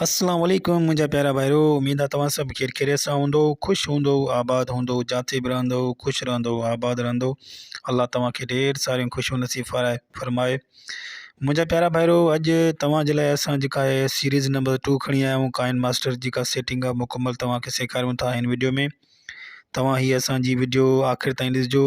السلام عليڪم منهنجا پيارا ڀائرو اميد آ توهان سڀ خير خيريت سان هوندؤ خوش هوندؤ آباد هوندؤ جاٿي به رهندؤ خوش رهندؤ آباد رهندؤ الله توهان کي ڍير ساريون خوشيون نصيب فرائي فرمائي منهنجا پيارا ڀائرو اڄ توهان جي لاء اسان جيڪا هي سيريز نمبر ٽو کڻي آيا آهيون ڪائن ماسٽر جي ڪا سيٽنگ آ مڪمل توهان کي سيکاريون ٿا هن وڊيو ۾ توهان هي اسان جي وڊيو آخر تائين ڏسجو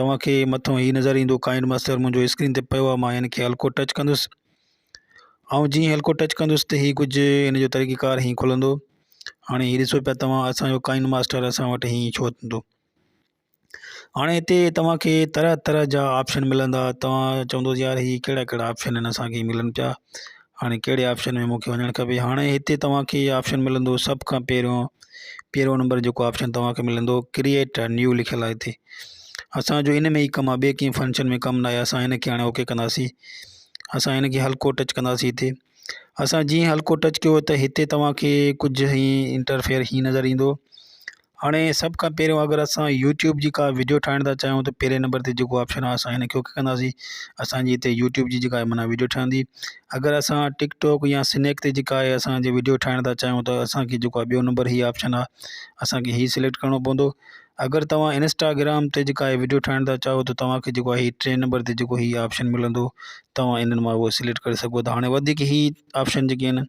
توهان کي مٿو هي نظر ايندو ڪائنڊ ماستر منهنجو اسڪرين تي پيو آهي مان هن کي هلڪو ٽچ ڪندس آئون جيئن هلڪو ٽچ ڪندس ته هي ڪجهه هن جو طريقه ڪار هي کلندو هاڻي هي ڏسو پيا توهان اسان جو ڪائنڊ ماستر اسان وٽ هي ڇو ٿيندو هاڻي هتي توهان کي طرح طرح جا آپشن ملندا توهان چوندو يار هي ڪهڙا ڪهڙا آپشن آهن اسان کي ملن پيا هاڻي ڪهڙي آپشن ۾ مونکي وڃڻ کپي هاڻي هتي توهانکي اهي آپشن ملندو سڀ کان پهريون پهريون نمبر جيڪو آپشن توهانکي ملندو ڪريئٽ ا نيو لکيل آهي هتي اسانجو ان ۾ ئي ڪم آهي ٻي ڪنهن فنڪشن ۾ ڪم ناهي اسان هنکي هاڻي اوڪي ڪنداسي اسان هنکي هلڪو ٽچ ڪنداسي هتي اسان جيئن هلڪو ٽچ ڪيو ته هتي توهانکي ڪجهه هي انٽرفيئر هي نظر ايندو هاڻي سڀ کان پهريون اگر اسان يوٽيوب جي ڪا ويڊيو ٺاهڻ ٿا چاهيون ته پهرين نمبر تي جيڪو آپشن آهي اسان هنکي اوڪي ڪنداسين اسانجي هتي يوٽيوب جي جيڪا معنيٰ ويڊيو ٺهندي اگر اسان ٽڪ ٽوڪ يا سنيڪ تي جيڪا آهي اسانجي ويڊيو ٺاهڻ ٿا چاهيون ته اسانکي جيڪو آهي ٻيو نمبر هي آپشن آهي اسانکي هي سليڪٽ ڪرڻو پوندو اگر توهان انسٽاگرام تي جيڪا آهي ويڊيو ٺاهڻ ٿا چاهو ته توهانکي جيڪو آهي ٽئين نمبر تي جيڪو هي آپشن ملندو توهان انهن مان هو سليڪٽ ڪري سگهو ٿا هاڻي وڌيڪ هي آپشن جيڪي آهن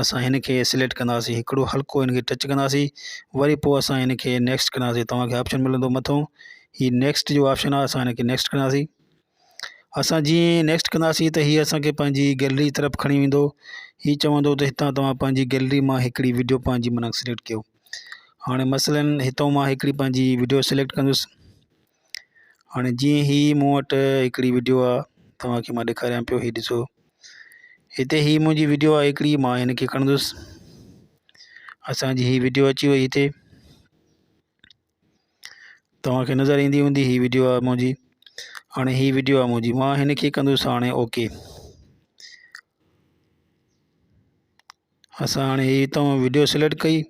اسان هن کي سليڪٽ ڪنداسي هڪڙو هلڪو هن کي ٽچ ڪنداسي وري پوء اسان هن کي نيڪسٽ ڪنداسي توهان کي آپشن ملندو مٿو هي نيڪسٽ جو آپشن آهي اسان هن کي نيڪسٽ ڪنداسي اسان جيئن نيڪسٽ ڪنداسي ته هي اسان کي پنهنجي گيلري طرف کڻي ويندو هي چوندو ته هتان توهان پنهنجي گيلري مان هڪڙي ويڊيو پنهنجي من سليڪٽ ڪيو هاڻي مثلا هتو مان هڪڙي پنهنجي ويڊيو سليڪٽ ڪندس هاڻي جيئن هي مون وٽ هڪڙي وڊيو آ توهان کي مان ڏيکاريان پيو هي ڏسو هتي هي منهنجي وڊيو آ هڪڙي مان هن کي کڻندس اسان جي هي وڊيو اچي وئي هتي توهان کي نظر ايندي هوندي هي وڊيو آ منهنجي هاڻي هي وڊيو آ منهنجي مان هن کي ڪندس هاڻي اوڪي اسان هاڻي هي توهان وڊيو سليڪٽ ڪئي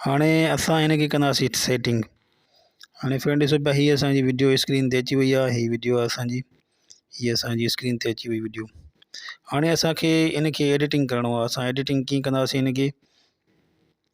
هاڻي اسان هن کي ڪنداسي سيٽنگ هاڻي فرينڊ ڏسو پيا هي اسانجي وڊيو اسڪرين تي اچي وئي آهي هي وڊيو آهي اسانجي هي اسانجي اسڪرين تي اچي وئي وڊيو هاڻي اسانکي هن کي ايڊيٽنگ ڪرڻو آهي اسان ايڊيٽنگ ڪيئن ڪنداسي هن کي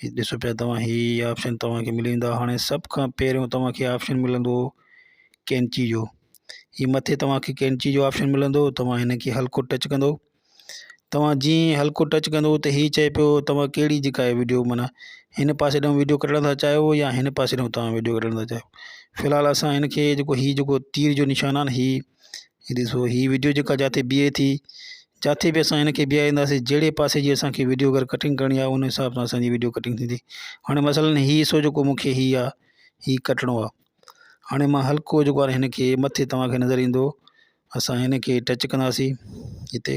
ھي ڏسو پيا توھان ھي آپشن توھان کي ملي ويندا ھاڻي سڀ کان پھريون توھان کي آپشن ملندو ڪينچي جو ھي مٿي توھان کي ڪينچي جو آپشن ملندو توھان ھن کي ھلڪو ٽچ ڪندو توھان جيئن ھي ھلڪو ٽچ ڪندو ته ھي چئي پيو توھان ڪھڙي جيڪا ھي ويڊيو معنيٰ ھن پاسي ڏانھن ويڊيو ڪڍڻ ٿا چاھيو يا ھن پاسي ڏانھن توھان ويڊيو ڪڍڻ ٿا چاھيو فلحال اسان ھن کي جيڪو ھي جيڪو تير جو نشان آھي نه ھي ھي ڏسو ھي ويڊيو جيڪا جاٿي بيھي ٿي جاٿي به اسان ھنکي بيھارينداسين جھڙي پاسي جي اسانکي ويڊيو اگر ڪٽنگ ڪرڻي آھي ان حساب سان اسانجي ويڊيو ڪٽنگ ٿيندي ھاڻي مثلا ھي حصو جيڪو مونکي ھي آ ھي ڪٽڻو آ ھاڻي مان ھلڪو جيڪو آ ھنکي مٿي توھانکي نظر ايندو اسان ھنکي ٽچ ڪنداسين ھتي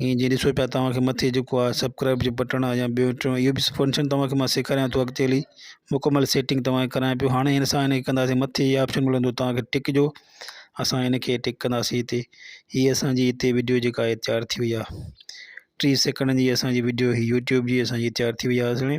ھينئر جيئن ڏسو پيا توھان کي مٿي جيڪو آ سبڪرائب جو بٽڻ آ يا ٻيو ٽيون اھو به فنڪشن توھان کي مان سيکاريان ٿو اڳتي ھلي مڪمل سيٽنگ توھان کي ڪرايان پيو ھاڻي ھن سان ھن کي ڪنداسين مٿي اھي آپشن ملندو توھان کي ٽڪ جو اسان ھن کي ٽڪ ڪنداسين ھتي ھي اسانجي ھتي وڊيو جيڪا آ تيار ٿي وئي آ ٽي سيڪنڊ جي اسانجي وڊيو ھي يوٽيوب جي اسانجي تيار ٿي وئي آ سھڻي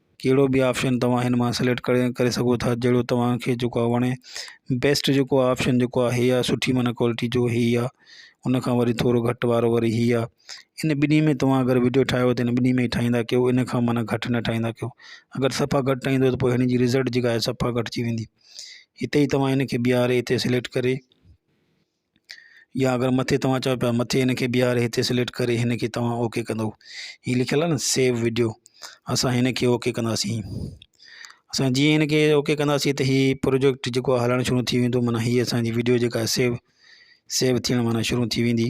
ڪهڙو به آپشن توهان هن مان سليڪٽ ڪري ڪري سگهو ٿا جهڙو توهان کي جيڪو آ وڻي بيسٽ جيڪو آ آپشن جيڪو آ هي آ سٺي معنيٰ ڪوالٽي جو هي آ ان کان وري ٿورو گهٽ وارو وري هي آ ان ٻنهي ۾ توهان اگر وڊيو ٺاهيو ته ان ٻنهي ۾ ٺاهيندا ڪيو ان کان معنيٰ گهٽ نه ٺاهيندا ڪيو اگر صفا گهٽ ٺاهيندو ته پوء هن جي رزلٽ جيڪا آهي صفا گهٽ ٿي ويندي هتي توهان هن کي بيهاري هتي سليڪٽ ڪري يا اگر مٿي توهان چئو پيا مٿي هنکي بيهاري هتي سليڪٽ ڪري هنکي توهان اوڪي ڪندو هي لکيل آهي نه سيو وڊيو اسان هنکي اوڪي ڪنداسين اسان جيئن هنکي اوڪي ڪنداسين ته هي پروجيڪٽ جيڪو آهي هلڻ شروع ٿي ويندو معنيٰ هي اسانجي وڊيو جيڪا آهي سيو سيو ٿيڻ معنيٰ شروع ٿي ويندي